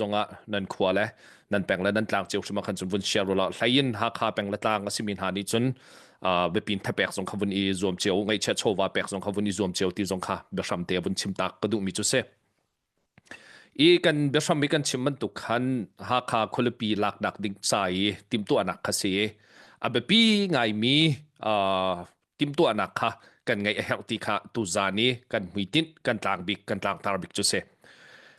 zongah nan khua le nan peng le nan tlang cio hrim ah khan cun vun share rula hlain Hakha peng le tlang a simi hna nih cun biapin thapek zong kha vun i zuam cio ngaihchiat chawva pek zong kha vun i zuam cio ti zong kha biahram te vun chim tak ka duhmi cu si i kan biahram i kan chim bantuk khan Hakha khualipi lak dak ding sa i timtuanak kha si a biapi ngaimi timtuahnak kha kan ngeih a herh ti kha tuzan i kan hmuitinh kan tlang bik kan tlangtar bik cu si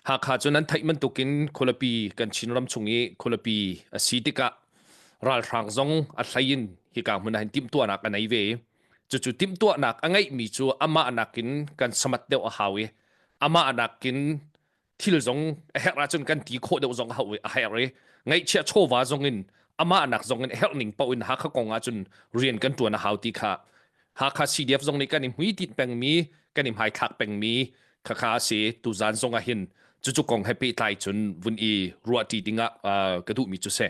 hakha cu nan theih bantukin khualapi kan chinram chung i khualapi a si tikah ralhrang zong a hlein hi ka hmun hin timtuahnak a nei ve cucu timtuahnak a ngeihmi cu amah nakin kan samat deuh a hau i amah nakin thil zong a herh ahcun kan ti khawh deuh zong a herh i ngaihchia chawva zong in amahnak zong in herh ning paoh in Hakha kong ahcun rian kan tuan a hau ti kha Hakha CDF zong nih kan i hmuitit pengmi kan i hmaithlak pengmi khakha si tuzan zong ah hin cucu kong he pehtlai cun vun i ruahṭi dingah ka duhmi cu si.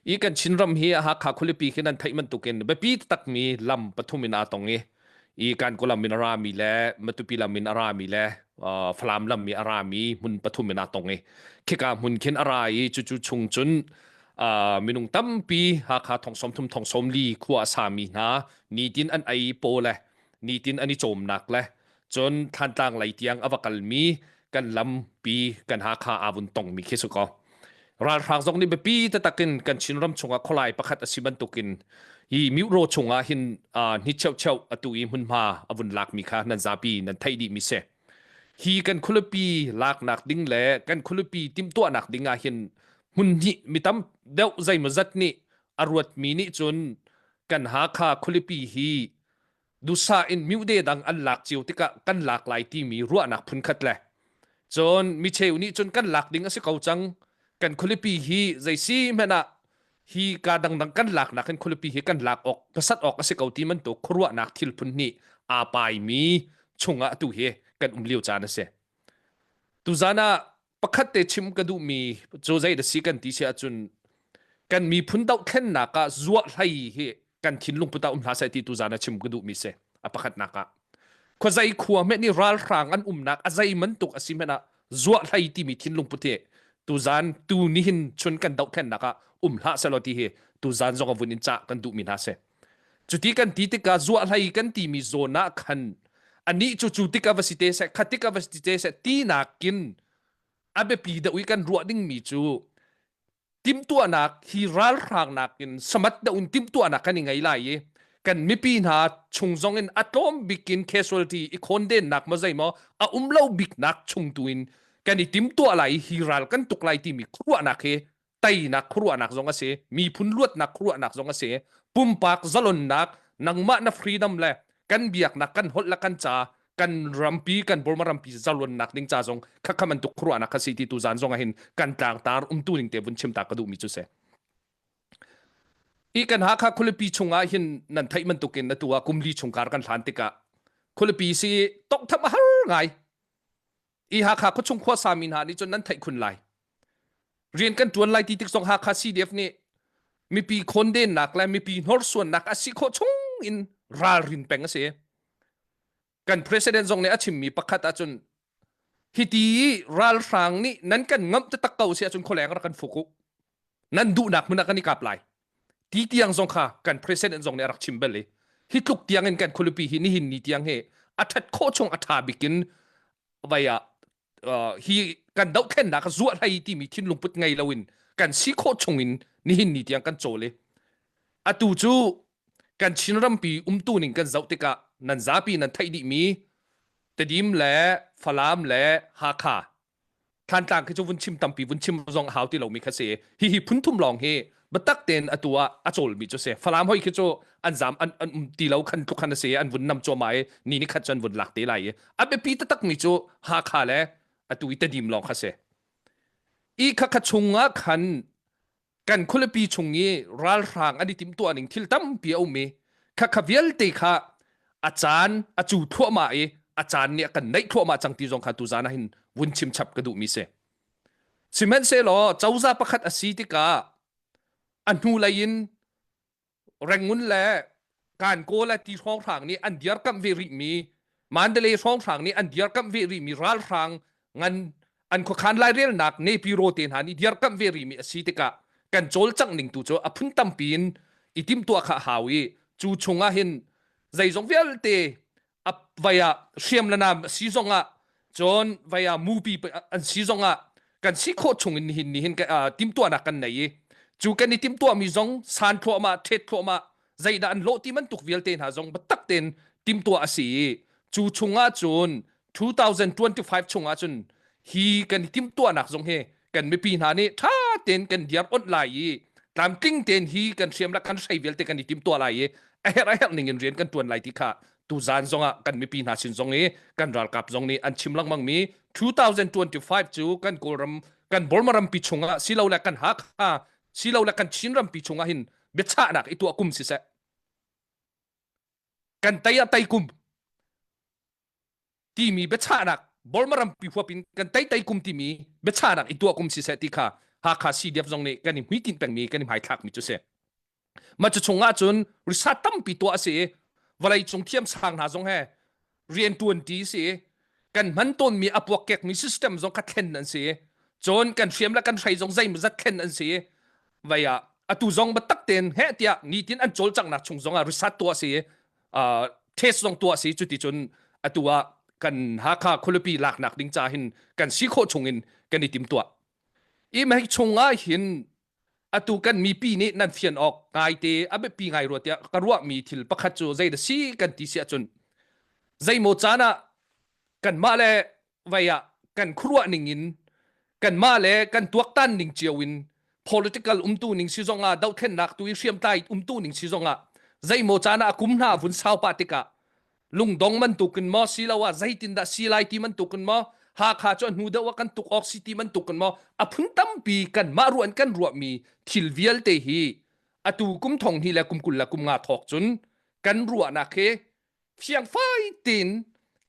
i kan Chinram hi Hakha khualipi khi nan theih bantukin biapi takmi lam pathum in aa tong i i Kankaw lam in a rami le Matupi lam in a rami le Falam lam i a rami hmun pathum in aa tong i khika hmun khin a ra i cucu chung cun minung tampi Hakha thongsawm thum thongsawm li khua a sami hna nitin an ei paw le nitin an i cawmnak le cun thantlang lei tiang a va kalmi kan lampi kan hakha avun tongmi khi su ko ralhrang zong nih biapi tatak in kan chinram chungah khualai pakhat a si bantukin hi miuro chungah hin ni cheu cheu atu i hmunhma avun lakmi kha nan zapi nan thei dih mi se hi kan khulupi laknak ding le kan khulupi timtuahnak dingah hin hmun hnih mitam deuh zeimazat nih a ruatmi nih cun kan hakha khulipi hi dusa in mute dang an lak cio tikah kan lak lai timi ruahnak phunkhat le cun micheu nih cun kan lak ding a si ko cang kan khulipi hi zei si hmanh ah hi ka dangdang kan lak nak in khulipi hi kan lak awk pasat awk a si ko ti man to khuruahnak thil phun ni a pai mi chungah tu hi kan um lio caan a si tuzana pakhat te chim ka duhmi cu zei da si kan ti si ahcun kan miphun dohthlennak ah zuah hlei hi kan thinlung puta um hna sai ti tu zan a chim ka duhmi se a pakhatnak ah khua zai khua me ni ralhrang an umnak a zei man tuk a si men ah zuah hlei timi thinlung pute tu zan tu ni hin chun kan dohthlennak ah um hla se lo ti hi tu zan zong a vun in cha kan duhmi hna se Cuti kan ti tikah zuah hlei kan timi zawn ah khan anih cu cu tik a va si te seh khat tik a va si te seh ti nakin a biapi deuh i kan ruah dingmi cu timtuahnak hi ralhrangnak in samat deuh in timtuahnak kan i ngei lai i kan mipi hna chung zong in a tlawm bikin casualty i khondennak maw zei maw a um lo biknak chung tu in kan i timtuah lai i hi ral kan tuk lai timi khuaruahnak hi teinak khuaruahnak zong a si miphun luatnak khuaruahnak zong a si pumpak zalonnak nangmah na freedom le kan biaknak kan holh le kan ca kan rampi kan Burma rampi zalonnak ding ca zong khakha man tuk khuaruahnak kha si ti tu zan zong ahin kan tlang tar umtu ning te vun chim ta ka du mi chu se i kan ha kha khulipi chungah hin nan thai man tukin na tua kumli chungkar kan hlan tikah khulipi si tok tham har ngai i Hakha khuachung khuasa mi hna nih cun nan theih khun lai rian kan tuan lai ti tik zong Hakha CDF nih mipi khondennak le mipi hnorsuannak a si khawh chung in ralrin peng a si kan president zong nih a chimmi pakhat ahcun hiti ralhrang nih nan kan ngamh te tak ko si ahcun khualeng rak kan fuk u nan duhnak hmun ah kan i kap lai ti tiang zong kha kan president zong nih a rak chim bel i hi tluk tiang in kan khualipi hi nihin ni tiang hi a that khawh chung a tha bikin vai ah uh, hi kan dohthennak kha zuah hlai timi thinlung put ngei loin kan si khawh chung in nihin ni tiang kan chawl i atu cu kan chin rampi umtu ning kan zoh tikah nan zapi nan theih dih mi tedim le falam le hakha thantlang khi cu vun chim tampi vun chim zong hau ti lomi kha si hi hi phunthum lawng hi biatak tein atu ah a cawlmi cu si falam hoi khi cu an zam an an um ti lo khan tluk khan si an vun nam cuama i ni ni khat cu an vun lak te lai i a biapi takmi cu hakha le atu i tedim lawng kha si i khakha chung ah khan kan khualipi chung i ralhrang an i timtuah ning thil tampi a um i khakha vialte kha a caan a cu thluahmah i a caan nih a kan neih thluahmah cang ti zong kha tuzan ah hin vun chim chap ka duh mi si sihmanhsehlaw cozah pakhat a si tikah a hnu lei in rengun le kan ko le ti hrawng hrang nih an diar kam ve rih mi mandale hrawng hrang nih an diar kam ve rih mi ral hrang ngan an khokhan lai rel nak ne pi ro te hna nih diar kam ve rih mi asi tikah kan chol chang ning tu cu a phun tam pin itim tua kha hau i chu chungah hin zeizong vialte a vai ah hriam le nam a si zong ah cun vai ah mupi an si zong ah kan si khawh chung in hin hin timtuahnak kan nei i cu kan i timtuah mi zong san thluahmah thet thluahmah zeidah an lawh ti man tuk vialte hna zong batak ten timtuah a si i cu chung ah cun 2025 chung ah cun hi kan timtuahnak zong hi kan mipi hna nih tha ten kan diar onh lai i tlamtling ten hi kan hriam la kan sei vialte kan i tim tua lai i a her a her ning in rian kan tuan lai ti kha tu zan zong ah kan mipi hna sin zong i kan ralkap zong nih an chim lengmang mi 2025 cu kan kawlram kan borma rampi chungah silo le kan hakha silo le kan chin rampi chungah hin biachahnak i tuah kum si se kan tai a tai kum timi biachahnak Burma rampi huap in kan tei tei kum timi biachahnak i tuah kum si seh ti kha Hakha CDF zong nih kan i hmuitinh pengmi kan i hmaithlak mi cu si mah cu chung ah cun risat tampi tuah a si i vawlei cung thiam sang hna zong he rian tuanti si kan hman tawnmi apuak kek mi system zong kha thlen an si cun kan hriam le kan hrei zong zei zat thlen an si vaya atu zong batak ten he tiah nitin an col cangnak chung zong ah risat tuah si test zong tuah si cu ti cun atu ah kan Hakha khualipi laknak ding ca hin kan si khawh chung in kan i tim tuah i mehik chung ah hin atu kan mipi nih nan fian awk ngai te a biapi ngai ruat tiah ka ruah mi thil pakhat cu zei da si kan ti si ahcun zeimaw caan ah kan mah le vai ah kan khuruah ning in kan mah le kan tuaktan ning cio in political umtu ning si zong ah dohthlennak tu i hriamtlai umtu ning si zong ah zeimaw caan ah kum hna vun sau pa tikah lungdong man tukin mo si lo ah zeitin dah si lai ti man tukin mo hakha chu hnu deuh kan tuk ok si ti man tukin mo aphun tampi kan ma ruan kan ruwa mi thil vialte hi atu kum thong hi le kum kul la kum nga thok chun kan ruwa nak he fiang fai tein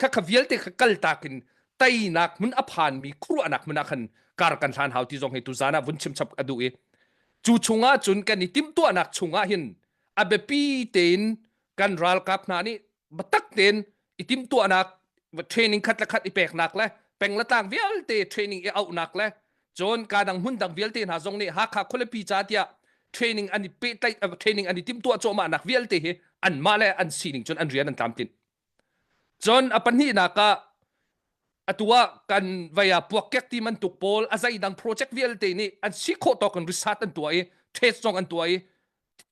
kha kha vialte kha kal tak in teinak mun a phan mi khuanak mun ah khan kar kan hlan hau ti zong hi tu zan ah vun chim chap ka duh i cu chungah cun kan i tim tuahnak chungah hin a biapi tein kan ralkap hna nih batak tein i tim tuahnak training khat le khat i peknak le peng le tlang vialte training i auhnak le cun ka dang hmun dang vialte hna zong nih Hakha khualipi ca tiah training an i pehtlaih eh, training an i timtuah cuahmah nak vialte hi an mah le an sining cun an rian an tlamtlin cun a pahnih nak ah atua kan vaya puak kek ti man tuk pawl azai dang project vialte nih an si khawh to kan resort an tua i trade song an tua i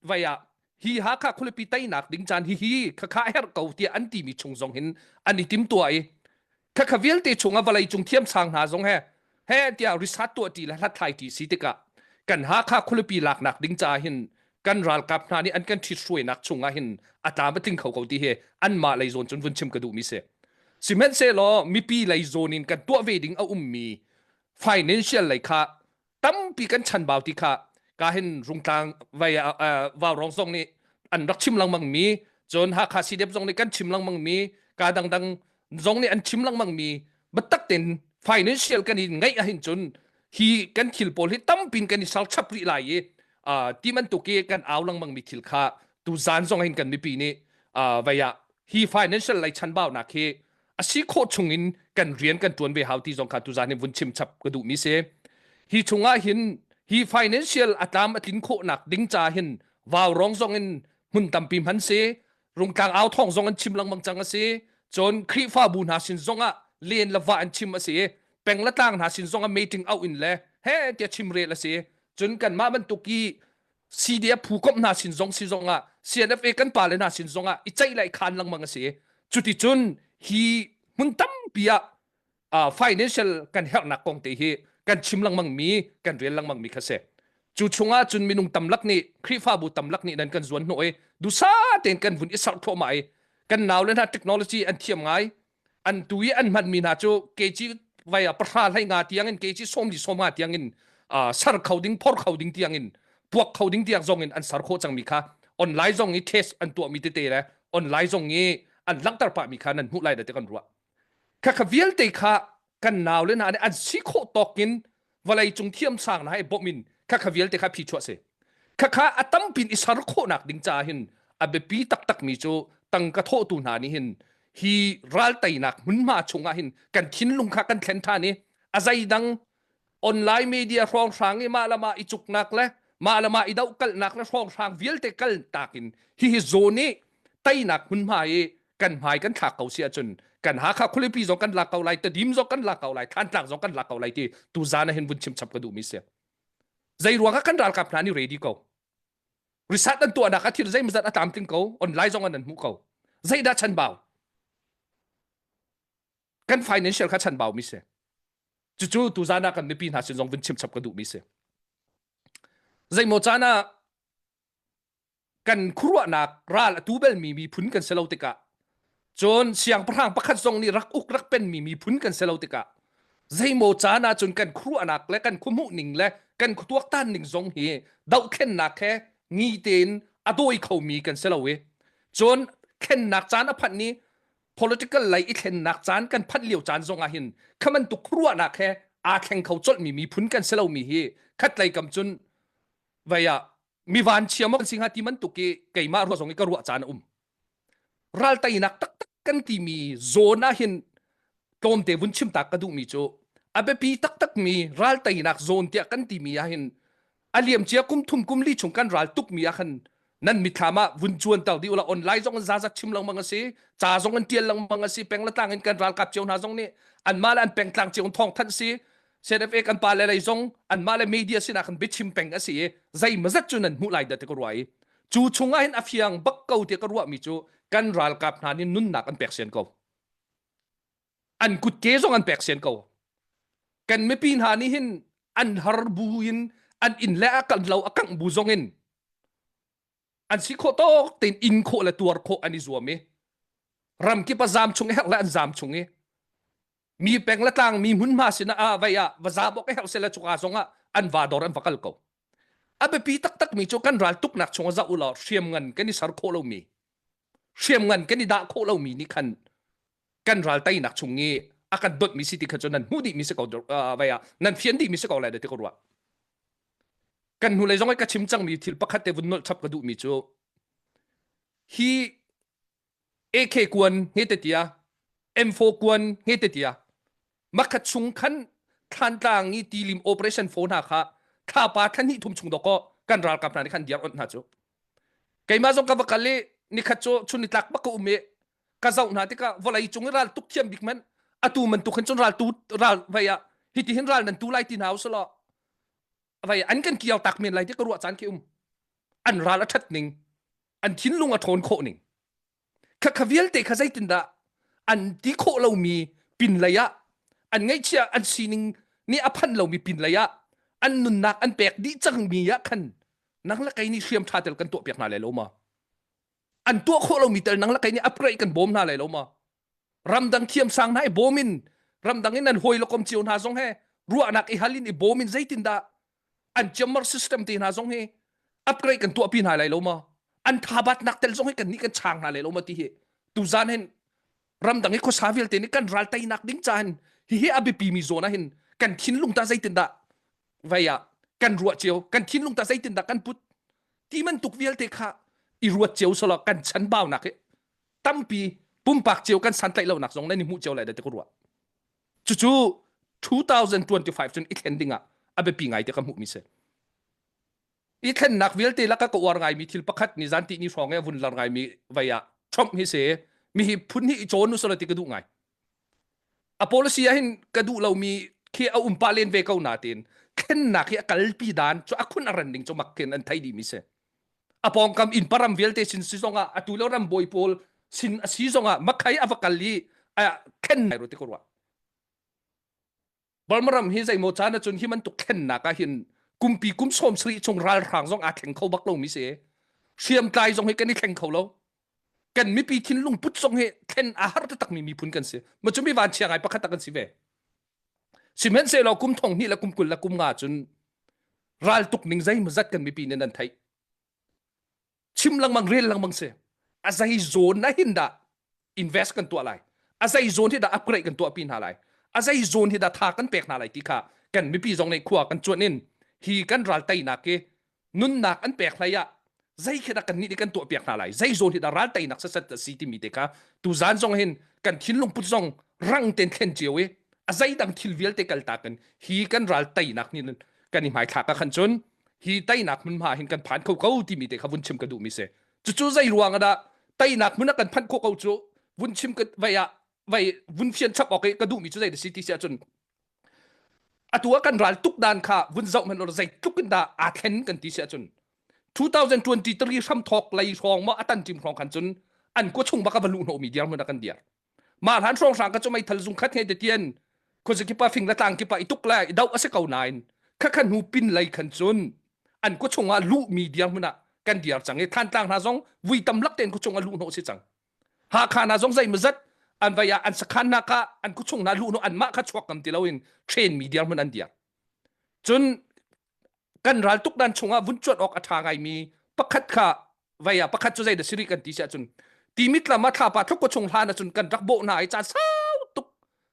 vai ah hi Hakha khualipi tainak ding caan hi hi khakha her ko tiah an timi chung zong hin an i tim tua i khakha vialte chung a vawlei cung thiam sang hna zong he he tiah risat tua ti le hlathlai ti si tikah kan Hakha khualipi laknak ding ca hin kan ralkap hna nih an kan thit hruainak chungah hin ata ma tling kho ko ti hi an ma lei zawn cun vun chim ka duh mi se sihmanh se law mipi lei zawn in kan tuah ve ding a ummi financial lei kha tampi kan chanbau ti kha ka hin rungtlang vai vau rong song nih an rak chim langmang mi cun hakha cdf zong nih kan chim langmang mi ka dangdang zong nih an chim langmang mi batak ten financial kan in ngai ahin cun hi kan thil pawl hi tampin kan i sal chap ri lai i ti man tu ke kan au langmang mi thil kha tu zan zong hin kan mipi nih vaya hi financial lei chanbau nak hi a si khawh chungin kan rian kan tuan ve hau ti zong kha tuzan in vun chim chap ka duh mi si hi chungah hin hi financial atlam atlin khawhnak ding ca hin vaurong zong in mun tampi man si rungtlang au thong zong an chim langmang chang asi chon khrifa bu hna sin zongah len lawa an chim asi pengla tlang hna sin zongah meeting au in le he tia chim rel asi chun kan ma ban tuki CDF phukom hna sin zong si zong ah CNFA kan pale hna sin zong ah i ceih lai khan lengmang a si cuti cun hi hmun tampi ah uh, financial kan herhnak kong te hi kan chim lengmang mi kan rel lengmang mi kha se cu chungah cun minung tamlak nih khrifabu tamlak nih nan kan zuan hnawh i dusa tein kan vun i sarh thawma i kan nau le hna technology an thiam ngai an tu i an hmanmi hna cu keci vai a pahra hlai nga tiangin keci sawmli sawma tiangin uh, ser kho ding phor kho ding tiangin puak kho ding tiang zongin an ser khawh cangmi kha online zong i test an tuahmi tete le online zong i an langhter pahmi kha nan hmuh lai da te kan ruah kha kha vialte kha kan nau le hna nih an si khawh tawk in vawlei cung thiam sang hna i bawm in khakha vialte kha phi chuah si khakha a tampin i ser khawhnak ding caah hin a biapi taktak mi cu tangka thawhtu hna nih hin hi ral teinak hmunhma chungah hin kan thinlung kha kan thlen than i a zeidang online media hrawnghrang i mah le mah i cuknak le mah le mah i dohkalhnak le hrawnghrang vialte kal tak in hihi zone i teinak hmunhma i kan hmai kan thlak ko si ahcun kan hakha khulipi zong kan lak ko lai tadim zong kan lak ko lai thantlak zong kan lak ko lai ti tu zana hin vun chim chap ka duh mi si zei ruang ah kan ralkap hna ni ready ko risat an tuah nak athir zei mazat atam ting ko online zong an an mu ko zeidah chan bau kan financial kha chanbau mi si cucu tu zan ah kan mipi hna sin zong vun chim chap ka duh mi si zeimaw caan ah kan khuruahnak ral a tu bel mi miphun kan si lo tikah cun siangpahrang pakhat zong nih rak uk rak pen mi miphun kan si lo tikah zeimaw caan ah cun kan khuruahnak le kan khuhmuh ning le kan khutuaktan ning zong hi dohthlennak he ngi tein a dawi kho mi kan si lo i cun khennak caan a phanh ni political lei i thlennak caan kan phanh lio caan zong ah hin kha bantuk ruahnak he aa thleng kho colhmi miphun kan si lomi hi khatlei kam cun vaya mi van chiam kan si hnga ti mantuk i keimah ruah zong i ka ruah caan a um ral teinak taktak kan timi zone ah hin tlawmte vun chim tak ka duhmi cu abiapi taktak mi ral teinak zone tiah kan timi ah hin a liamcia kum thum kum li chung kan ral tuk mi ah khan nan mithlam ah vun chuan tau di ula online zong za zak chim lang mang asi cha zong an tial lang mang asi peng la tlang in kan ral kap cheu hna zong ni an ma le an peng tlang cheu thong than si CNFA kan pa le lei zong an ma le media sina kan bichim peng asi e zai mazat chu nan mu lai da te ko ruai chu chunga hin afiang bak ko te ka ruwa mi chu kan ral kap hna ni nunnak an pek sen ko an kutke zong an pek sen ko kan mipi hna nih hin an har bu in an inn le a kan lo a kangh bu zong in an si khawh tok tein in khawh le tuar khawh an i zuam i ramkip a zam chung her le an zam chung i mi peng le tlang mi hmun ma sin ah vai ah va za bok her se le chuka zong ah an va dor an va kal ko a biapi taktak mi cu kan ral tuk nak chung za ula hriam ngan kan i sar khawh lo mi hriam ngan kan i dah khawh lo mi nih khan kan ral tainak chung i a kan dotmi si ti kha cun nan hmuh dihmi si ko vai ah nan fian dihmi si ko lai da ti ko rua kan hnulei zong ka chim cangmi thil pakhat te vun nolh chap ka duhmi cu hi AK kuan he te tia M4 kuan he te tia makhat chung khan thantlang i tilim operation fo hna kha thapa thlan hi thum chung doko kan ral kam hna ni khan diar on hna chu keima zong ka va kal i nikhat chu chun ni tlak bak ka um i ka zoh hna tikah vawlei cung i ral tuk thiam bik men atu man tuk hin cun ral tu ral vei ah hiti hin ral nan tu lai ti hna u sala vei an kan kiau tak men lai ti ka ruah caan khi um an ral a that ning an thinlung a thawn khawh ning kha kha vialte kha zeitin dah an ti khawh lo mi pin lei ah an ngaihchia an sining ni a phan lo mi pin lei ah an nunnak an pek di cang mi ah khan nang la kai ni hriam tha tel kan to piak hna le lo ma an tuah khawh lomi tal nang lakai nih aprei kan bawm hna lai lo ma ramdang thiam sang hna i bawm in ramdang in an hoi lokom cio hna zong he ruahnak i halin i bawm in zeitin dah an chamber system te hna zong hi upgrade kan tuah pi hna lai lo ma an thabat nak tel zong hi kan ni kan chang hna lai lo ma ti hi tu zan hen ramdang i khuasa vialte nih kan ral teinak ding caan hihi a biapi mi zawn ah hin kan thinlung ta zeitin dah vai ah kan ruah cio kan thinlung ta zeitin dah kan put ti man tuk vialte kha i ruat cio solo kan chan bao nak hi tampi pumpak cio kan san tlaih lo nak zong nan i hmuh cio lai da te ko ruah cu cu 2025 cun i thlen ding ah a biapi ngai te ka hmuh mi se i thlennak vialte lak a ka uar ngaimi thil pakhat ni zan ti ni hrawng a vun lar ngaimi vai ah Trump hi se mi hi phun hi i cawn usala ti ka duh ngai a policy ah hin ka duh lomi khi a um pa len ve ko na tin thlennak hi a kalpi dan chu a khun a ran ding chu mak ken an thai di mi se a pongkam in param vialte sin si zonga a tu lo ram boi pol sin a si zonga makhai avakal hi a khen nai ro ti ko rwa Balmaram hi zeimaw caan acun hi man tuk thlennak ah hin kumpi kum sawm sarih chung ralhrang zong aa thleng kho bak lo mi si hriamtlai zong hi kan i thleng kho lo kan mipi thinlung put zong hi thlen a har takmi miphun kan si ma cu mi van chia ngai pakhat tak kan si ve sihmen se lo kum thong hni la kum kul la kum nga cun ral tuk ning zei mazat kan mipi nen an theih chim lengmang rel lengmang si a zei zone na hin dah invest kan tuah lai a zei zone hi dah upgrade kan tuah pi hna lai a zei zone hi dah tha kan pek hna lai ti kha kan mipi zong nei khua kan chuan in hi kan ral tainak hi nunnak an pek hlai ah zei khi dah kan ni kan tuah piak hna lai zei zone hi dah ral tainak sasat si ti mi te kha tu zan zong hin kan thinlung put zong rang ten thlen chiu i a zei dang thil vialte kal ta kan hi kan ral tainak ni kan i mai thla ka khan chun hi tainak hmunhma hin kan phan kho ko timi te kha vun chim ka duhmi si cucu zei ruang ahdah tainak hmun ah kan phanh khawh ko cu vun chim vai ah vai vun fian chap awk ka duhmi cu zei da si ti si ahcun atu a kan ral tuk dan kha vun zoh hman or zei tluk in dah aa thlen kan ti si ahcun 2023 hram thawk lei hrawng ma atan tim hrawng khan cun an ko chung baka va luh no mi diar mun akan diar mah hlan hrawng hrang ka chu meithal zung khat ngei te tien khuazikipa fing la tlang kipa ituk le i dau ase ko nain kha khan hu pin lei khan chun an ku chunga lu mi diang hmuna kan diar chang e than tlang na zong vui tam lak ten ku chunga lu no si chang ha kha na zong zai mazat an vaya an sakhan na ka an ku chung na lu no an ma kha chuak kam ti loin train mi diar mun an diar chun kan ral tuk dan chungah vun chuat awk a tha ngaimi pakhat kha vaya pakhat cu zeidah siri kan ti si ahcun timit lama thlapa thukko chung hlan ahcun kan rak bawh hna i caan sau tuk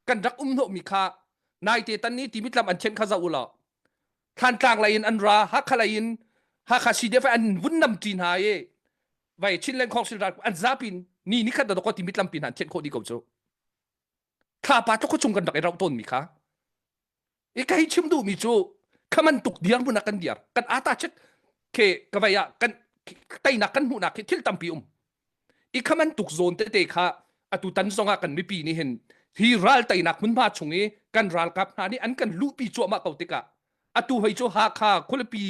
kan rak um hnawhmi kha naite tan ni timit lam an then kha za u law thantlang la in an ra hakha la in hakha CDF an vun nam ti hna i vai chinlen khong sil ran an zapin ni ni khat da ko timit lam pin han then kho di ko chu thlapa tluk chung kan rak i rauh tawnmi kha i ka hei chim duhmi cu khaman tuk diar hmun ah kan diar kan ata chek ke kavai ah kan teinak kan hmuhnak hi thil tampi um i khaman tuk zawn tete kha atu tan zongah kan mipi nih hin hi ral teinak hmunhma chung i kan ralkap hna nih an kan luhpi cuahmah ko tikah atu hei cu hakha khualpi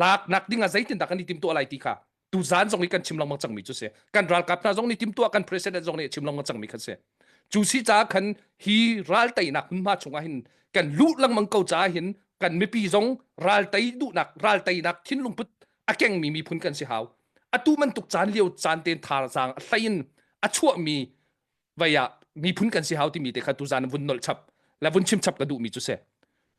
lak nak dingah zeitin dah kan i tim tuah lai ti kha tuzan zong i kan chim lengmang cangmi cu si kan ralkap hna zong nih timtuah kan president zong nih chim lengmang cangmi kan si cu si caah khan hi ralteinak hmunhma chungah hin kan lu lengmang ko caah hin kan mipi zong raltei duhnak ralteinak thinlung put a kengmi miphun kan si hau atu man tuk caan lio caan ten thar zang a tlain a chuahmi vai ah miphun kan si hau timi te kha tuzan vun nol chap la vun chim chap ka duh mi chu se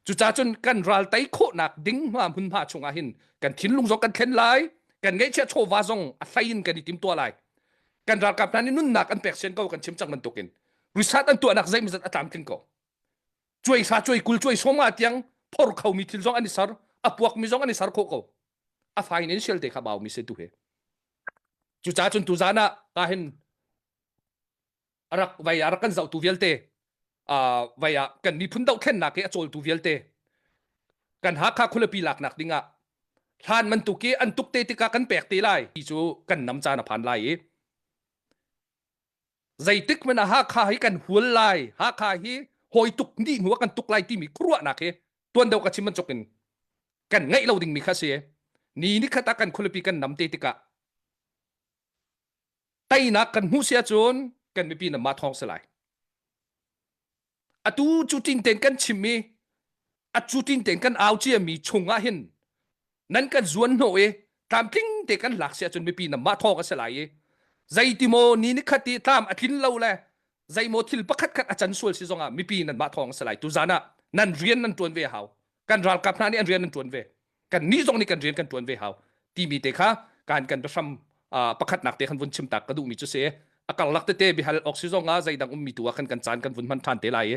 cuca cun kan ral tai khawh nak ding hma mun hma chung ah hin kan thinlung zong kan thlen lai kan ngeichia chawva zong a thlain kan i tim tua lai kan ralkap hna nih nunnak an pek sen ko kan chim chak man tukin risat an tuah nak zei mizat atlam tling ko chuai sa chuai kul chuai som nga tiang phor kho mi thil zong an i sar apuak mi zong an i sar kho ko a financial te kha baw mi se tu he cuca cun tu zana ka hin a rak vai a rak kan zohtu vialte uh, vai ah kan miphun dohthlennak hi a cawltu vialte kan Hakha khualipi laknak ding ah hlan man tuk i an tuk te tika kan pek te lai ti cu kan nam caan a phan lai i zeitik men a Hakha hi kan hual lai Hakha hi hoi tuk ni hnuah kan tuk lai timi khuaruahnak hi tuan do ka chim man chokin kan ngai lo ding mi kha si ni ni khata kan khualipi kan nam te tikah teinak kan hmuh si ahcun kan mipi namah thawng si lai atu cu tin ten kan chimmi a cu tin ten kan au ciami chungah hin nan kan zuan hnawh i tlamtling te kan lak si ahcun mipi namah thawng a si lai i zeitimaw ni ni khat i tlam a tlin lo le zeimaw thil pakhat khat a can sual si zongah mipi nan mah thawng a si lai tu zan ah nan rian nan tuan ve hau kan ralkap hna nih an rian an tuan ve kannih zong nih kan rian kan ṭuan ve hau timi te kha kan kan biahram pakhatnak te khan vun chim tak ka duhmi cu si a karlak tete bihal oxygen ah zeidang ummi tu ah khan kan caan kan vun hman ṭhan te lai i